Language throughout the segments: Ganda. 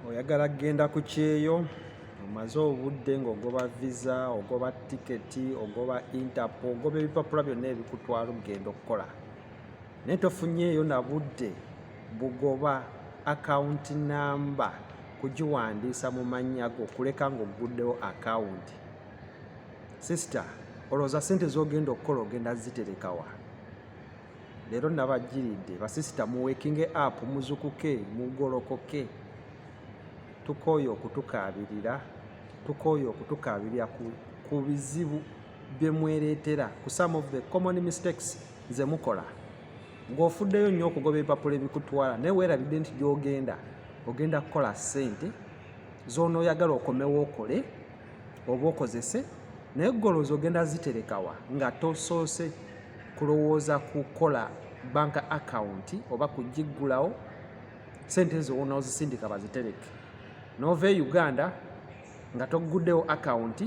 oyagala kugenda ku kyeyo omaze obudde ng'ogoba visa ogoba tiketi ogoba interpo ogoba ebipapula byonna ebikutwala okugenda okukola naye tofunyeeyo na budde bugoba akawunti namba kugiwandiisa mu mannya go kuleka ng'ogguddewo akawunti sisita olowooza sente z'ogenda okukola ogenda ziterekawa leero nabajjiridde basisita muwekinge app muzukuke mugolokoke tukooye okutukaabirira tukooye okutukaabirira ku bizibu bye mwereetera ku some of the common mistakes ze mukola ng'ofuddeyo nnyo okugoba ebipapula ebikutwala naye weerabidde nti gy'ogenda ogenda kukola ssente z'onooyagala okomewo okole oba okozese naye golowooza ogenda ziterekawa nga tosoose kulowooza kukola bank account oba kugiggulawo sente ezo wona ozisindika bazitereke nova e uganda nga togguddewo account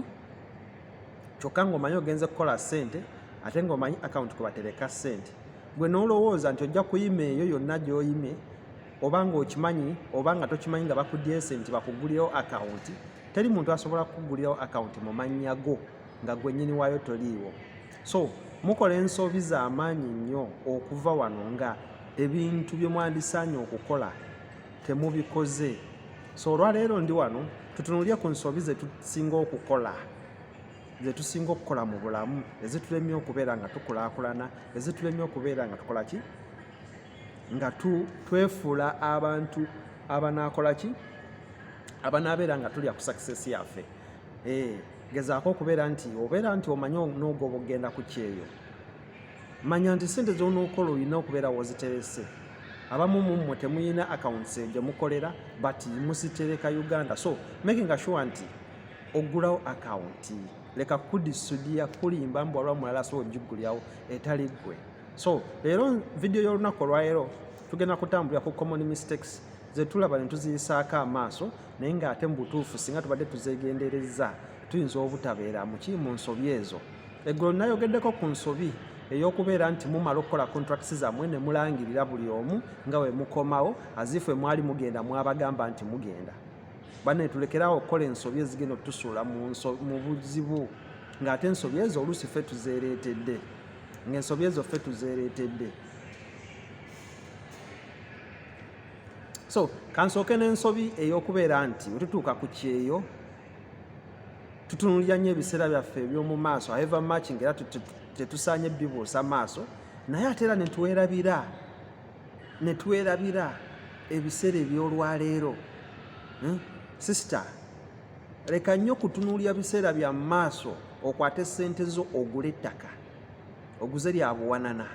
kyokka ngaomanyi ogenze kukola sente ate ngaomanyi account kwebatereka sente gwe nolowooza nti ojja kuyima eyo yonna gyoyime oba ng'okimanyi oba nga tokimanyi nga bakuddyeyo sente bakugulirewo akawunti teri muntu asobola kukugulirawo akawunti mu mannya go nga gwennyini waayo toliiwo so mukola ensobi z'amaanyi nnyo okuva wano nga ebintu bye mwandisaanye okukola temubikoze so olwaleero ndi wano tutunulire ku nsobi ze tusinga okukola zetusinga okukola mu bulamu ezitulemye okubeera nga tukulaakulana ezitulemye okubeera nga tukola ki nga twefuula abantu abanaakola ki abanaabeera nga tulya ku success yaffe eh, gezaako okubeera nti obeera nti omanyi onoogoba okugenda ku kyeyo manya nti sente zonookola olina okubeera woziterese abamu mummwe temuyina accounts gye mukolera but musitereka uganda so making sure nti ogulawo akawunti leka kudisudiya kulimba mbu alwa mulala so ogigulyawo etali ggwe so leero vidiyo y'olunaku olwaleero tugenda kutambulira ku common mistakes zetulaba netuziyisaako amaaso naye ngaate mu butuufu singa tubadde tuzegendereza tuyinza obutabeera muki mu nsobi ezo eggulo nayogeddeko ku nsobi eyokubeera nti mumala okukola contracts zamwe ne mulangirira buli omu nga we mukomawo azifu emwali mugenda mwabagamba nti mugenda bane tulekerawo okukola ensobi ezigenda otusuula mu buzibu ng'ate ensobi ezo oluusi ffe tuzeereetedde ng'ensobi ezo ffe tuzeereetedde so kansooke n'ensobi ey'okubeera nti bwe tutuuka ku kyeyo tutunulira nnyo ebiseera byaffe eby'omu maaso however much nga era tetusaanye bibuusa maaso naye ate era netwerabira netwerabira ebiseera eby'olwaleero hmm? sister leka nnyo kutunuulira biseera bya maaso okwate sente zo ogule ettaka oguze lya buwanana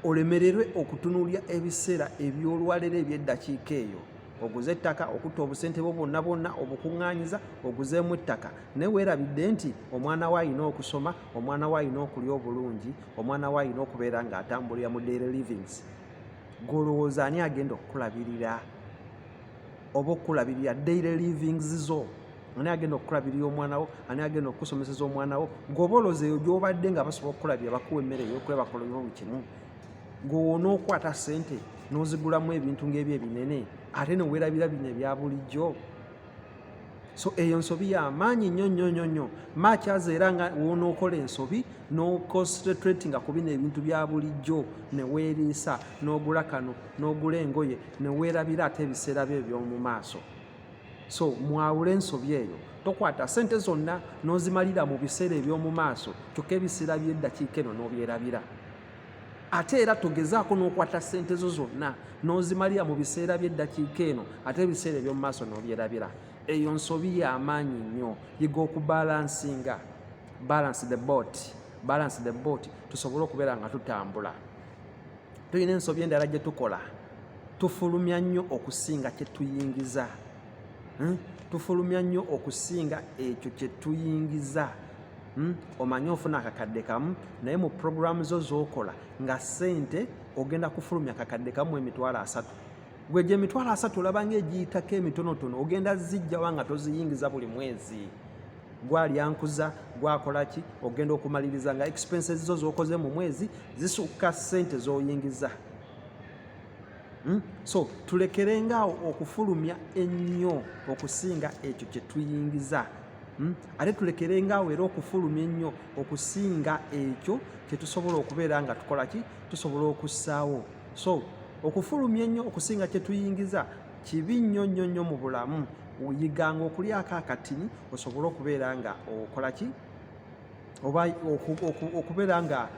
olemererwe okutunuulira ebiseera ebyolwalero ebyeddakiika eyo oguze ettaka okutta obusente bwo bwonna bwonna obukuŋŋaanyiza oguzeemu ettaka naye weerabidde nti omwana we alina okusoma omwana we alina okulya obulungi omwana we alina okubeera ng'atambulira mu daily livings gwe olowooza ani agenda okukulabirira oba okukulabirira daily livings zo ani agenda okukulabirira omwana wo ani agenda okukusomeseza omwana wo goba oloza eyo gyobadde nga basobola okukulabira bakuwa emmere eyokwebakola buli kimu gwewoona okukwata sente nozigulamu ebintu ngaebyo ebinene ate newerabira bino ebya bulijjo so eyo nsobi ya maanyi nnyo nnyo nnyo nnyo makyaza era nga wonookola ensobi noconcentratinga ku bino ebintu bya bulijjo neweeriisa n'ogula kano n'ogula engoye neweerabira ate ebiseera byo eby'omu maaso so mwawule ensobi eyo tokwata sente zonna n'ozimalira mu biseera eby'omu maaso kyokka ebiseera by'eddakiika eno n'obyerabira ate era togezaako n'okwata ssente zo zonna n'ozimalira mu biseera by'eddakiika eno ate ebiseera eby'omu maaso n'obyerabira eyo nsobi y'amaanyi nnyo yiga okubalansinga balance the boat balance the boat tusobole okubeera nga tutambula tulina ensobi endala gye tukola tufulumya nnyo okusinga kye tuyingiza hmm? tufulumya nnyo okusinga ekyo kye tuyingiza hmm? omanyi ofuna akakadde kamu naye mu puroguramu zo z'okola nga ssente ogenda kufulumya akakadde kamu emitwalo asatu gwe gye emitwalo asatu olaba ngaegiyitako emitonotono ogenda zijjawa nga toziyingiza buli mwezi gwalyankuza gwakolaki ogenda okumaliriza nga expenses zo zokoze mu mwezi zisukka sente zoyingiza Hmm? so tulekerenga awo okufulumya ennyo okusinga ekyo kye tuyingiza hmm? ate tulekerenga awo era okufulumya ennyo okusinga ekyo kye tusobola okubeera nga tukola ki tusobola okussaawo so okufulumya ennyo okusinga kye tuyingiza kibi nnyo nnyo nnyo mu bulamu yiganga okulyako akatini osobole okubeera nga okola ki oba okubeera nga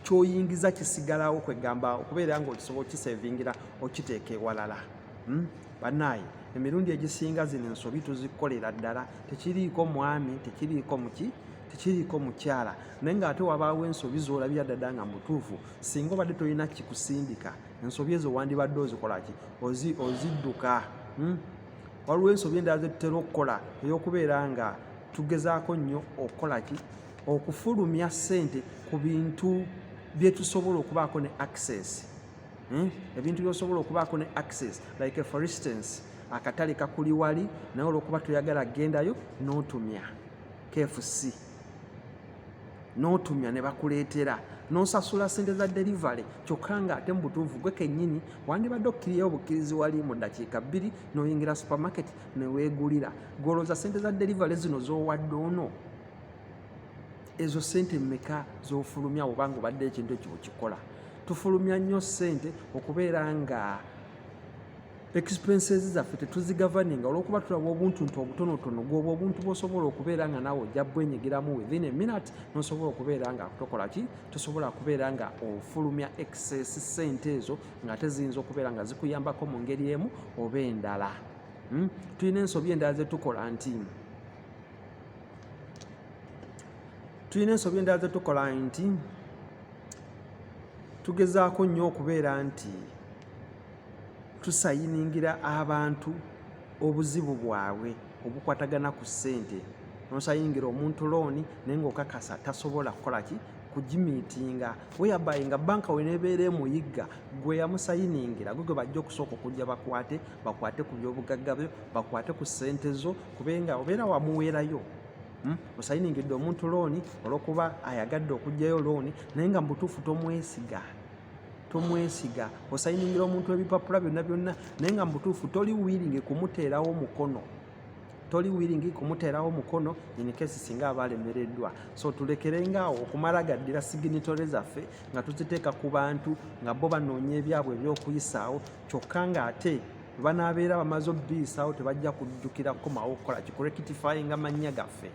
kyoyingiza kisigalawo kwegamba okubeera nga okisobola okisevingira okiteeka ewalala hmm? banaye emirundi egisinga zino ensobi tuzikolera ddala tekiriiko mwami tekiriiko muki tekiriiko mukyala naye nga ate wabaawo ensobi zolabira ddada nga mutuufu singa obadde tolina kikusindika ensobi ezo wandibadde ozikolaki ozidduka hmm? waliwo ensobi endala zetutera okukola eyokubeera nga tugezaako nnyo okukola ki okufulumya ssente ku bintu bye tusobola okubaako ne access hmm? ebintu byosobola okubaako ne access like for instance akatale kakuli wali naye olwokuba toyagala gendayo notumya kfc notumya ne bakuleetera nosasula sente za delivery kyokka nga ate mubutuufu gwe kenyini wandibadde okkiriyo obukkirizi wali mu dakiika bbiri noyingira supermarket newegulira goloza sente za delivery zino zowadde ono ezo sente meka zofulumya obanga obadde ekintu ekyo okikola tufulumya nnyo sente okubeera nga expenses zaffe tetuzigavaninga olwokuba tulaba obuntu nti obutonotono gwoba obuntu bwosobola okubeera nga nawe ojja bwenyigiramu within a minute nosobola okubeera nga tokola ki tosobola kubeera nga ofulumya excess sente ezo nga ate ziyinza okubeera nga zikuyambako mu ngeri emu oba endala Hmm? tulina ensobi endala zetukola nti tulina ensobi endala zetukola nti tugezaako nnyo okubeera nti tusayiningira abantu obuzibu bwabwe obukwatagana ku ssente nosayingira omuntu looni naye ngaokakasa tasobola kukola ki kugimiitinga weyabayi nga banka wenebeera emuyigga gwe yamusayiningira gwe gwe bajja okusooka okujja bakwate bakwate ku byobugagga byo bakwate ku ssente zo kubenga obeera wamuweerayo hmm? osayiningidde omuntu looni olwokuba ayagadde okugjayo looni naye nga mubutuufu tomwesiga tomwesiga osayiningira omuntu ebipapula byonna byonna naye nga mubutuufu toli wiringi kumuteerawo mukono toli wiringi kumuteerawo mukono inkesi singa aba alemereddwa so tulekerengaawo okumala gaddira siginitore zaffe nga tuziteeka ku bantu nga bo banoonya ebyabwe ebyokuyisaawo kyokka ng'ate banabeera bamaze obiisawo tebajja kujjukira kukomawo okukola kikurekitifayinga mannya gaffe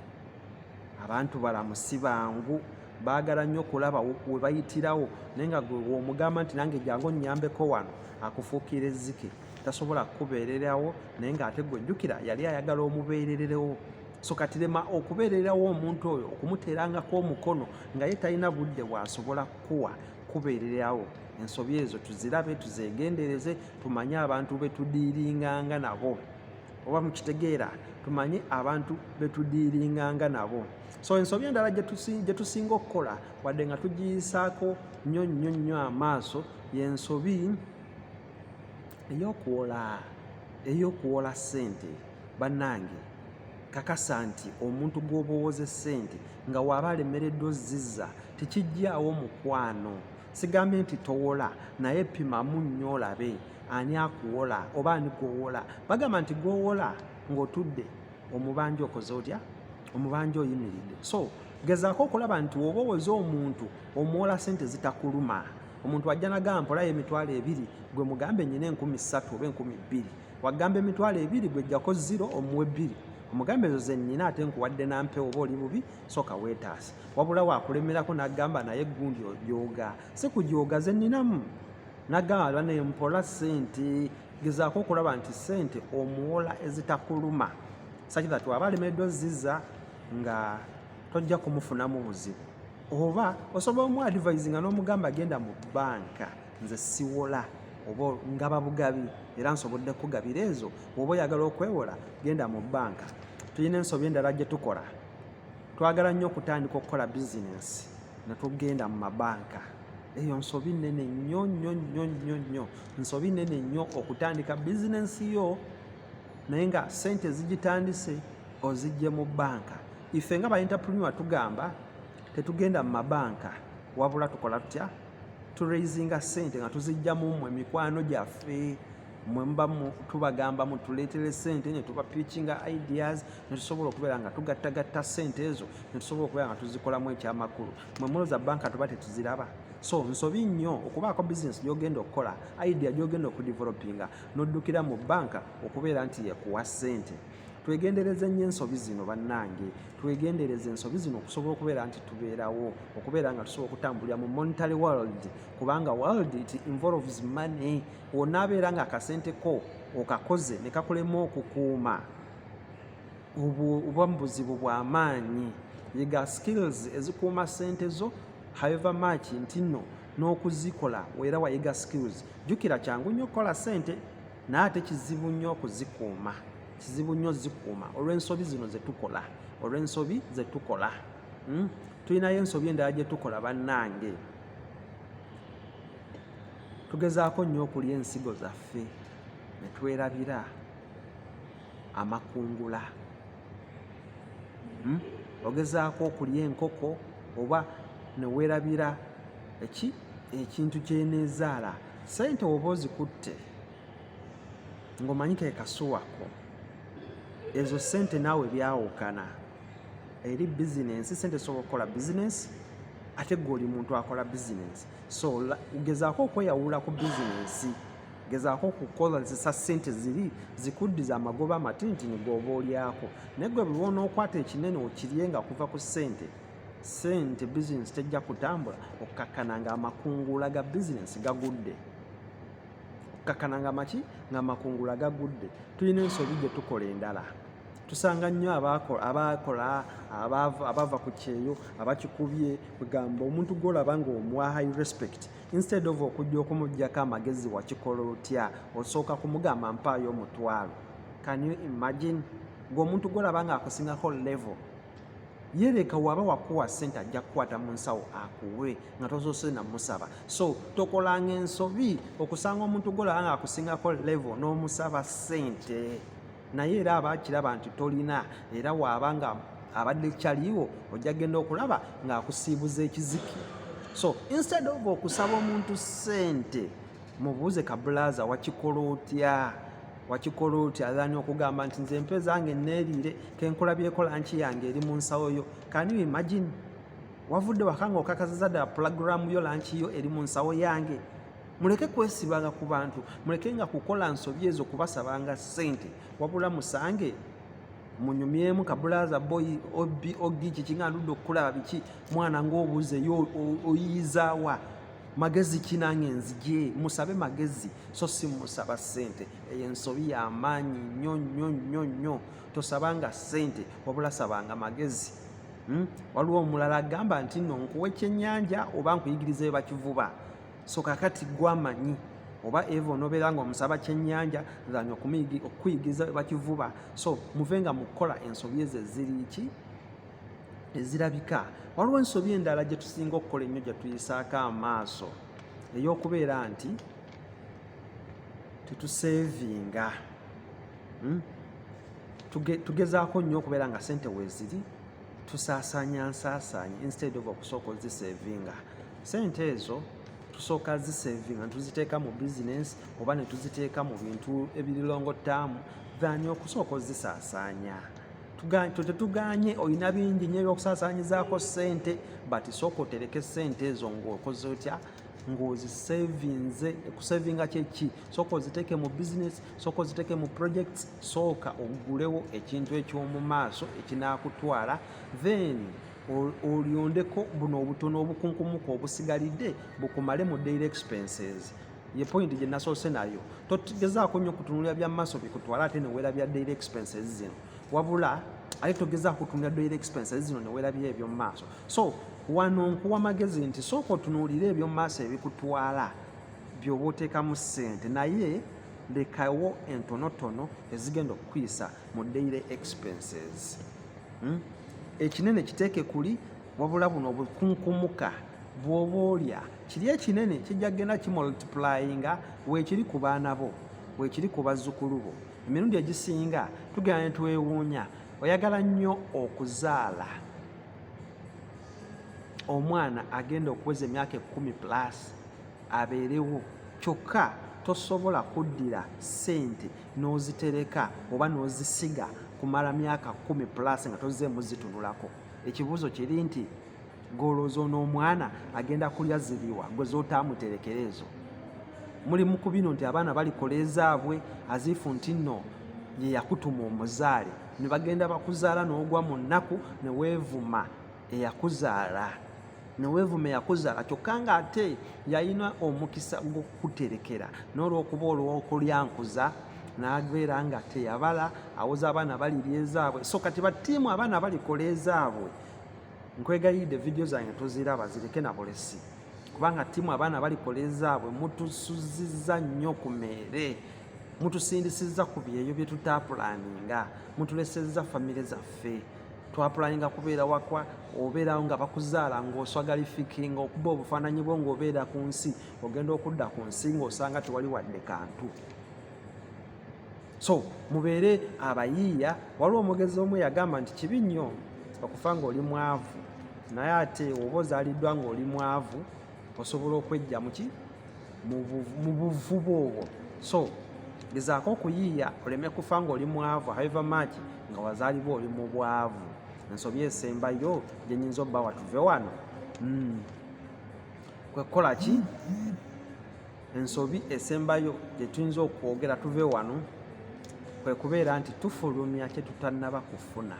abantu balamu si bangu baagala nnyo okulaba we bayitirawo naye nga gwomugamba nti nange jangu onnyambeko wano akufuukira ezzike tasobola kukubeererawo naye ng'ate gwe jjukira yali ayagala omubeerererewo so kati lema okubeererawo omuntu oyo okumuteerangako omukono nga ye talina budde bwasobola kukuwa kubeererawo ensobi ezo tuzirabe tuzegendereze tumanye abantu betudiiringanga nabo oba mukitegeera tumanye abantu betudiiringanga nabo so ensobi endala gyetusinga okukola wadde nga tugiyisaako nnyo nnyo nnyo amaaso yensobi eyokuwola eyokuwola ssente bannange kakasa nti omuntu gw'oba owoza essente nga waaba alemereddwa ozziza tekijjaawo mukwano sigambye nti towola naye pimamu nnyo olabe ani akuwola oba ani gwowola bagamba nti gwowola ng'otudde omubanja okoze otya omubanja oyimiridde so gezaako okulaba nti woba owoza omuntu omuwola sente zitakuluma omuntu ajja nagamba mpolayo emitwalo ebiri gwe mugambe nyina enkumi ssatu oba enkumi bbiri wagamba emitwalo ebiri gwejjako ziro omuwe bbiri omugambe ezo zenina ate nkuwadde nampewo oba oli bubi soka wetaasa wabula wakulemerako nagamba naye gundi ojoga si kujoga zeninamu nagamba banaye mpola sente gezaako okulaba nti sente omuwola ezitakuluma saki that waba alemereddwa ziza nga tojja kumufunamu buzibu oba osobola omu advise nga n'omugamba agenda mu banka nze siwola oba ngaba bugabi era nsobodde kugabira ezo oba oyagala okwewola genda mu bbanka tulina ensobi endala gye tukola twagala nnyo okutandika okukola bizinensi ne tugenda mu mabanka eyo nsobi nnene nnyo nnyo nnyo nnyo nnyo nsobi nnene nnyo okutandika bizinensi yo naye nga sente ezigitandise ozijje mu bbanka ife nga ba interpreneur tugamba tetugenda mu mabanka wabula tukola tutya turaisinga sente nga tuzijja mu mwe mikwano gyaffe mwe muba tubagamba mutuleetere sente ne tuba pitchinga ideas ne tusobola okubeera nga tugattagatta sente ezo ne tusobola okubeera nga tuzikolamu ekyamakulu mwe muloza banka tuba tetuziraba so nsobi nnyo okubaako bizinesi gyogenda okukola idea gyogenda okudevelopinga noddukira mu banka okubeera nti yekuwa sente twegendereze nnyo ensobi zino bannange twegendereze ensobi zino okusobola okubeera nti tubeerawo okubeera nga tusobola okutambulira mu monetary world kubanga world it involves money wonna abeera nga akasente ko okakoze ne kakulema okukuuma oba mu buzibu bw'amaanyi yiga skills ezikuuma sente zo however much nti nno n'okuzikola era wayiga skills jjukira kyangu nnyo okukola sente naye ate kizibu nnyo okuzikuuma kizibu nnyo zikuuma olw'ensobi zino zetukola olw'ensobi zetukola hmm? tulinayo ensobi endala gyetukola bannange tugezaako nnyo okulya ensigo zaffe ne twerabira amakungula hmm? ogezaako okulya enkoko oba newerabira eki ekintu kyenezaala sente oba ozikutte ng'omanyi ke kasuwako ezo sente naawe byawukana eri bizinensi sente sobola okukola bizinensi ate gwe oli muntu akola bizinensi so gezaako okweyawula ku bizinensi gezaako okukozesa sente ziri zikuddiza amagoba amatintini gooba olyako naye gwe bwe onookwata ekinene okirye nga kuva ku sente sente bizinesi tejja kutambula okkakkana nga amakungula ga bizinesi gagudde okkakkana nga maki nga amakungula gagudde tulina ensobi gye tukola endala tusanga nnyo abaakola abava ku kyeyo abakikubye kugamba omuntu gwolaba nga omwa high respect instead of okujja okumujjako amagezi wakikola otya osooka kumugamba mpaayo omutwalo can you imagine ngaomuntu gwolaba nga akusingako level yeleka waba wakuwa sente ajja kukwata mu nsawo akuwe nga tozose namusaba so tokolanga ensobi okusanga omuntu gwolaba nga akusingako level n'omusaba sente naye era aba akiraba nti tolina era waaba nga abadde kyaliwo ojja genda okulaba ng'akusiibuza ekiziki so instead of okusaba omuntu ssente mubuuze kabulaaza wakikola otya wakikola oti aani okugamba nti nze empe zange neeriire kenkola byekola nki yange eri mu nsawo yo kani imagine wavudde wakanga okakasiza ddala pulagulaamu yo lankiyo eri mu nsawo yange muleke kwesibanga ku bantu muleke nga kukola nsobi ezo kubasabanga ssente wabula musange munyumyemu kabulaza boy obi ogi kikinga ndudde okukulaba biki mwana ngaobuuze yo oyiyizawa magezi kinange nzije musabe magezi so si musaba ssente eyo ensobi yamaanyi nnyo nnyo nnyo nnyo tosabanga ssente wabula sabanga magezi hmm? waliwo omulala agamba nti no nkuwa ekyenyanja oba nkuyigiriza ebakivuba so kakati gwamanyi oba eva onobeera nga omusaba kyenyanja zanya okukuyigiza bakivuba so muve nga mukukola ensobi ezo eziriiki ezirabika waliwo ensobi endala gye tusinga okukola ennyo gye tuyisaako amaaso ey'okubeera nti tetuseevinga hmm? tugezaako nnyo okubeera nga sente weeziri tusaasanya nsaasaanya instead of okusooka ozisevinga sente ezo tusooka zisevinga netuziteeka mu business oba netuziteeka mu bintu ebirilongo taamu thani okusooka ozisaasaanya tetuganye olina bingi nyo ebyokusaasaanyizaako sente but sooka otereke sente ezo ngaokoze otya ng'ozisevinze kusevinga kyeki sooka oziteeke mu business sooka oziteeke mu projects sooka ogulewo ekintu eky'omu maaso ekinaakutwala then olyondeko buno obutono obukunkumuka obusigalidde bukumale mu daily expenses ye point gye nasoose nayo togezaako nnyo kutunulira bya maaso bikutwala ate newera bya daily expenses zino wabula ate togezaako kutunulira daily expenses zino newera bya ebyo mu maaso so wano nkuwa magezi nti sooka otunuulire ebyomu maaso ebikutwala byoba oteekamu ssente naye lekawo entonotono ezigenda okukuyisa mu daily expenses hmm? ekinene kiteeke kuli wabula buno obukunkumuka bwoba olya kiri ekinene kijja kugenda kimultiplyinga weekiri ku baana bo weekiri ku bazzukulu bo emirundi egisinga tugenda ne twewuunya oyagala nnyo okuzaala omwana agenda okuweza emyaka ekumi plus abeerewo kyokka tosobola kuddira ssente n'ozitereka oba n'ozisiga kumala myaka kumi plus nga tozzeemu zitunulako ekibuuzo kiri nti golooza ono omwana agenda kulya ziriwa gwe zotaamuterekera ezo muli mu ku bino nti abaana balikola ezaabwe aziifu nti nno ye yakutuma omuzaale ne bagenda bakuzaala n'ogwa mu nnaku ne weevuma eyakuzaala ne weevuma eyakuzaala kyokka ng'ate yalina omukisa gw'okukuterekera n'olw'okuba olw'okulyankuza n'abeera nga teyabala awoza abaana balirya ezaabwe so kati batiimu abaana balikola ezaabwe nkwegayidde vidiyo zange toziraba zireke na bulesi kubanga tiimu abaana balikola ezaabwe mutusuziza nnyo ku meere mutusindisizza ku byeyo bye tutaapulaninga mutulesezza famire zaffe twapulaninga kubeera wakwa obeerawo nga bakuzaala ng'oswagalifikinga okuba obufaananyi bwo ng'obeera ku nsi ogenda okudda ku nsi ng'osanga tewali wadde kantu so mubeere abayiiya waliwo omugezi omu yagamba nti kibi nnyo okufa ng'oli mwavu naye ate oba ozaaliddwa ng'oli mwavu osobola okwejja muki mu buvubu obwo so gezaako okuyiiya oleme kufa nga oli mwavu however much nga wazaalibwa oli mu bwavu ensobi esembayo gyenyinza obba watuve wano hmm. kwekukola ki ensobi esembayo gyetuyinza okwogera tuve wano kwe kubeera nti tufulumya kye tutannaba kufuna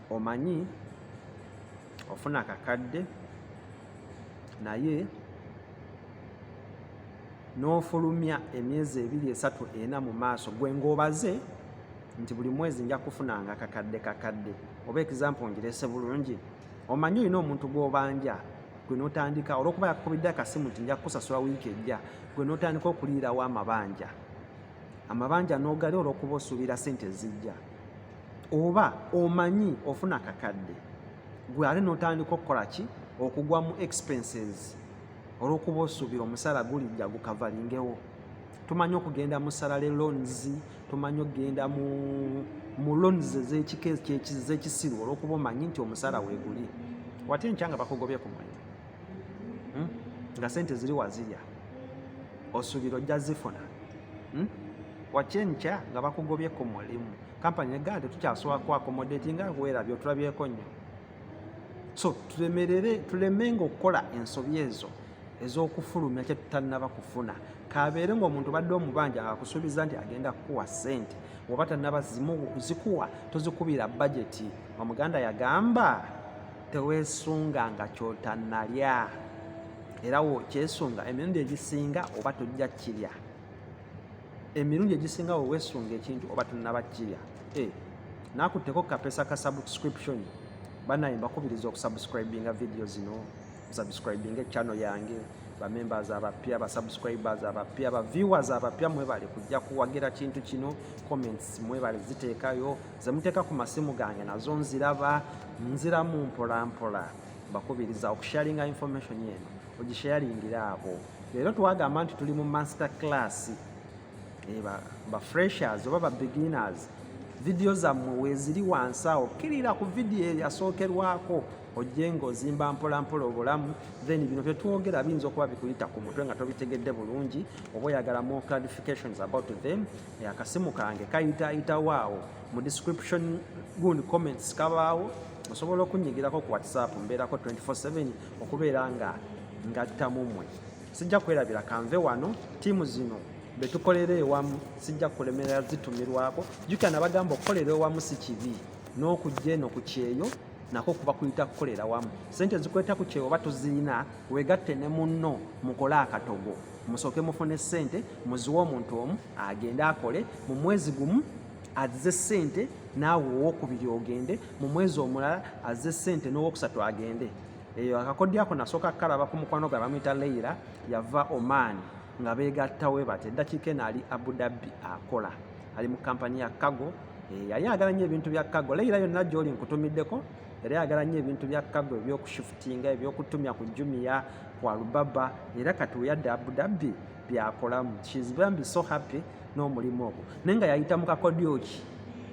omanyi ofuna kakadde naye n'ofulumya emyezi ebiri esatu ena mu maaso gwe ng'obaze nti buli mwezi nja kufunanga kakadde kakadde oba ekizampo ngirese bulungi omanyi olina omuntu gw'obanja gwe n'otandika olwokuba yakukubidde akasimu nti nja kukusasula wiiki ejja gwe n'otandika okuliirawo amabanja amabanja n'ogali olwokuba osuubira sente ezijja oba omanyi ofuna kakadde gwe ate notandika okukola ki okugwa mu expenses olwokuba osuubira omusaala gulijja gukavalingewo tumanyi okugenda mu salary loans tumanyi okugenda mu mu loans ezekisiru olwokuba omanyi nti omusaala weguli wate nkya nga bakugobye ku mulimu hmm? nga sente ziri wazirya osuubira ojja zifuna hmm? wakyenkya nga bakugobye ku mulimu kampani negaa nti tukyasobola ku akomodeti nga weerabye otulabyeko nnyo so tulemerere tulemenga okukola ensobi ezo ez'okufulumya kye tutannaba kufuna kabeere ng'omuntu badde omubanja akusuubiza nti agenda kukuwa ssente oba tannaba zikuwa tozikubira bajeti omuganda yagamba teweesunga nga kyotannalya era wokyesunga emirundi egisinga oba tojja kirya emirundi egisinga wewesunga ekintu oba tunaba kirya eh, nakutteko kapesa ka subscription banaye mbakubiriza okusubscribinga vidiyo zino subscribinga echannel yange bamembers abapya basubscribers abapya baviewers abapya mwebale kujja kuwagira kintu kino comments mwebale ziteekayo zemuteeka ku masimu gange nazo nziraba nziramu mpolampola bakubiriza okusharinga information eno ogisharingira abo leero twagamba nti tuli mu master class eh, ba freshers oba ba beginners vidiyo zammwe weeziri wansi awo kkirira ku vidiyo eyasookerwako ojje ng'ozimba mpolampola obulamu then bino byetwogera biyinza okuba bikuyita ku mutwe nga tobitegedde bulungi oba oyagala more clarifications about them eh, akasimu kange kayitaayitawo awo mu description gundi comments kabaawo osobola okunyigirako ku whatsapp mbeerako 247 okubeera nga ngatta mumwe sijja kwerabira kanve wano tiimu zino betukolera ewamu sijja kulemerera zitumirwako jukana bagamba okukolera ewamu si kibi n'okujja eno ku kyeyo nako kuba kuyita kukolera wamu sente zikweta ku kyeyo oba tuziina wegatte ne munno mukole akatogo musooke mufune sente muziwe omuntu omu agende akole mu mwezi gumu azze ssente naawe owokubiri ogende mu mwezi omulala azze ssente n'owokusatu agende eyo akakodyo ako nasooka kukalaba ku mukwano gwe bamuyita leira yava oman nga beegattawe bati eddakiika eno ali abudabbi akola ali mu kampani ya kago eh, yali agala nnyo ebintu bya kago leira yonna gyoli nkutumiddeko era yagala nnyo ebintu bya kago ebyokushifutinga ebyokutumya ku jumiya ku alubaba era kati weyadde abudabbi byakolamu shes bambi so happy n'omulimu ogwo naye nga yayita mu kakodyo ki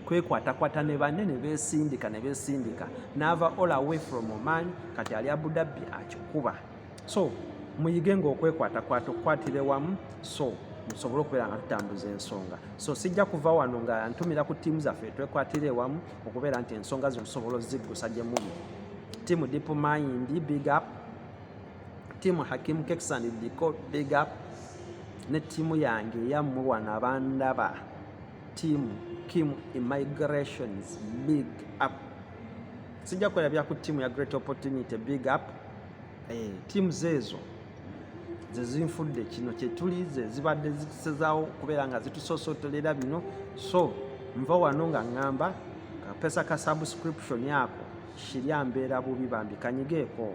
kwekwatakwata ne banne ne beesindika ne beesindika n'ava all away from oman kati ali abudabbi akikuba so muyige ngaokwekwatakwaata okukwatire wamu so musobole okubeera nga tutambuza ensonga so sijja kuva wano nga ntumira ku tiimu zaffe twekwatire ewamu okubeera nti ensonga zino tusobola oziggusa gye muli tiimu deep mind big up tiimu hakim keksan diko big up ne tiimu yange eyammwe wano abandaba tiimu kim immigrations big up sijja kukola bya ku tiimu ya great opportunity big up eh, tiimu zeezo zezinfudde kino kyetuli zezibadde zitusezawo okubeera nga zitusosotolera bino so nva wano nga ŋŋamba kapesa ka subscription ako shirya mbeera bubi bambi kanyigeeko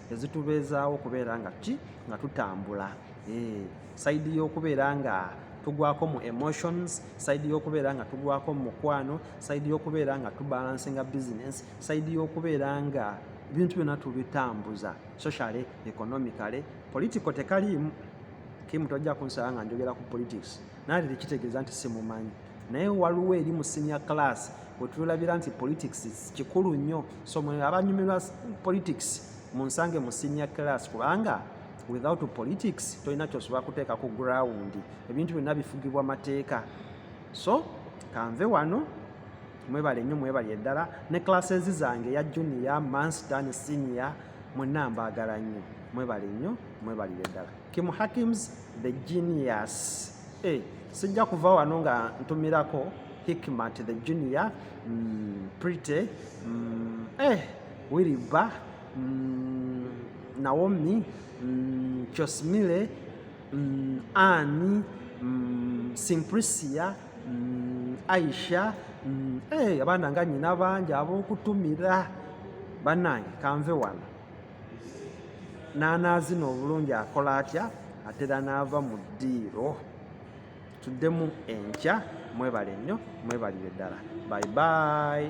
ezitubeezaawo okubeera nga ki nga tutambula eh, saidi y'okubeera nga tugwako mu emotions saidi y'okubeera nga tugwako mu mukwano saidi y'okubeera nga tubalansinga business saidi y'okubeera nga bintu byonna tubitambuza socially economically political tekaliimu kimu tojja kunsaba nga njogera ku politics naye tekitegeeza nti simumanyi naye waliwo eri mu senior class wetulabira nti politics kikulu nnyo so mwe abanyumirwa politics munsange mu senior class kubanga without politics tolina kyosobola kuteeka ku ground ebintu byonna bifugibwa mateeka so kanve wano mwebale nnyo mwebali eddala ne classes zange ya junior manstan senior mwenna mbaagala nnyo mwebale nnyo mwebalire ddala kimu hakims the genius Eh, sijja kuva wano nga ntumirako hikmat the junior mm, pretty mm, eh, wiriba mm, naomi mm, chosmile mm, ani mm, simprisia mm, aisha mm, eh, abaana nga nyina bangi abokutumira banange kanve wano n'anaazina obulungi akola atya atera n'ava mu ddiiro tuddemu enkya mwebale nnyo mwebalire ddala bye bye